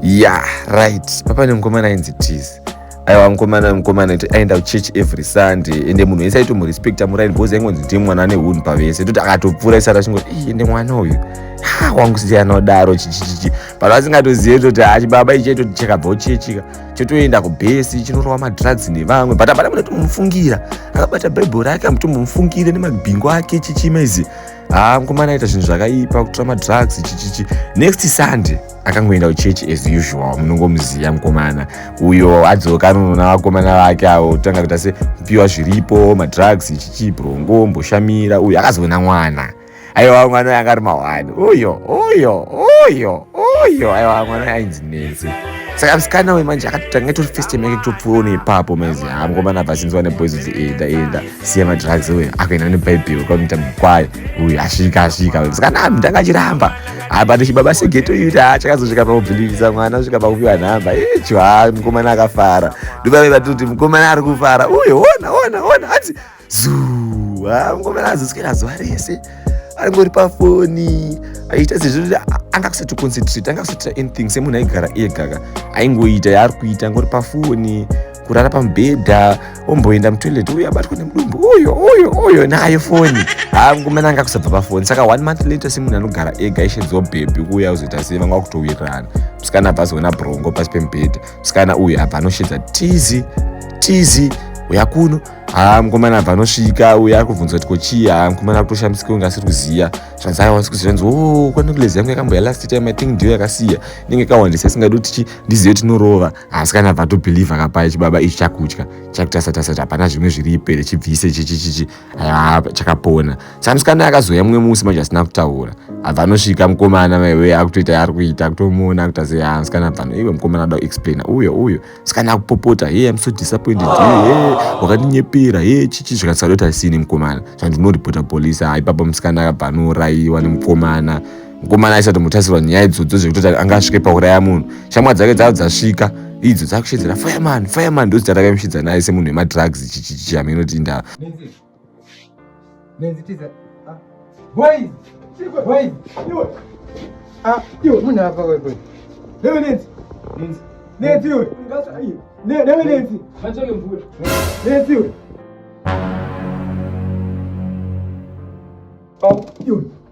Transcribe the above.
ya right papa nemukomana ainzi tizi aiwa mukomana mukomana ti aenda kuchurch every sunday ende munhu wese aitomurespekta muraini because aingonzi ndiye mwana ane hunhu pavese toti akatopfuura isati achingoti ii ende mwana uyu ha wangu sei anodaro chichichichi but asingatozive toti ha chibaba ichi aitoti chakabva uchechika chotoenda kubhesi chinorova madrugs nevamwe but hapana munotomufungira akabata bhaibheri ake amutombomufungire nemabhingo ake chichima izi haa mukomana aita zvinhu zvakaipa kutora madrugs chichichi next sunday akangoenda kuchurch as usual munongomuziva mukomana uyo adzoka anonoona vakomana vake avo tanga kuita se kupiwa zviripo madrugs chichi brongo mboshamira uyo akazoona mwana aiwa mwana anga ari mahwani uyo uyo uyo uyo aiwa mwana ainzi nezi saka musikana wemanje akatotanga itori first time yake kutopfuura neipapo maizi haa mukomana abva sinziwa neboys kuti enda enda siya madrugs uyu akaenda nebhaibheri kwamita mukwayo uyu asvika asvika uyu saka nami ndakachiramba apa tichibaba segeto uyu kuti achakazosvika pakubhilivisa mwana svika pakupiwa nhamba icho ha mukomana akafara ndobave vati kuti mukomana ari kufara uyu ona ona ona hanzi zuu ha mukomana azoswera zuva rese angori pafoni aita sezvekuti anga kusati concentrate anga kusatira anything semunhu aigara egaka aingoita yaari kuita angori pafoni kurara pamubhedha omboenda mutoilet uyo abatwa nemudumbu uyo uyo uyo nayo foni haangomana anga kusabva pafoni saka one month later semunhu anogara ega ishedzwa bhebhi kuuya uzoita sei vanga kutowirirana musikana abva azoona brongo pasi pemubhedha musikana uyo abva anoshedza tizi tizi uya kuno haa mukomana abva anosvika uye ari kubvunza kuti kochii haa mukomana ari kutoshamisika unge asiri kuziva zvanzi aiwa asi kuziva nzi o oh, kwanekulezy yangu yakambouya last time i think ndiyo yakasiya inenge ikawandisa isingadi kuti tichi ndizive tinorova asi kana bva tobhilivha kapaye chibaba ichi chakutya chakutasatasati hapana zvimwe zviri ipere chibvise chichichichi aa chakapona samusikana akazouya mumwe musi manje asina kutaura abva anosvika mukomana maiwe akutoita yaari kuita kutomuona akuta se yaa musikana bvano iwe mukomana ada kuexplaina uyo uyo musikana akupopota ye am so disappointed ye wakandinyepera ye chichi zvikatisadota sini mukomana zvandinoreporta polisi haa ipapa musikana akabva anourayiwa nemukomana mukomana aisatomutasirwa nyaya idzodzo zvekutoti anga asvike pauraya munhu shamwa dzake dzava dzasvika idzo dzakushedzera fireman fireman ndozita rakaimushidza naye semunhu wemadrugs chichame inoti indaa Oh, you.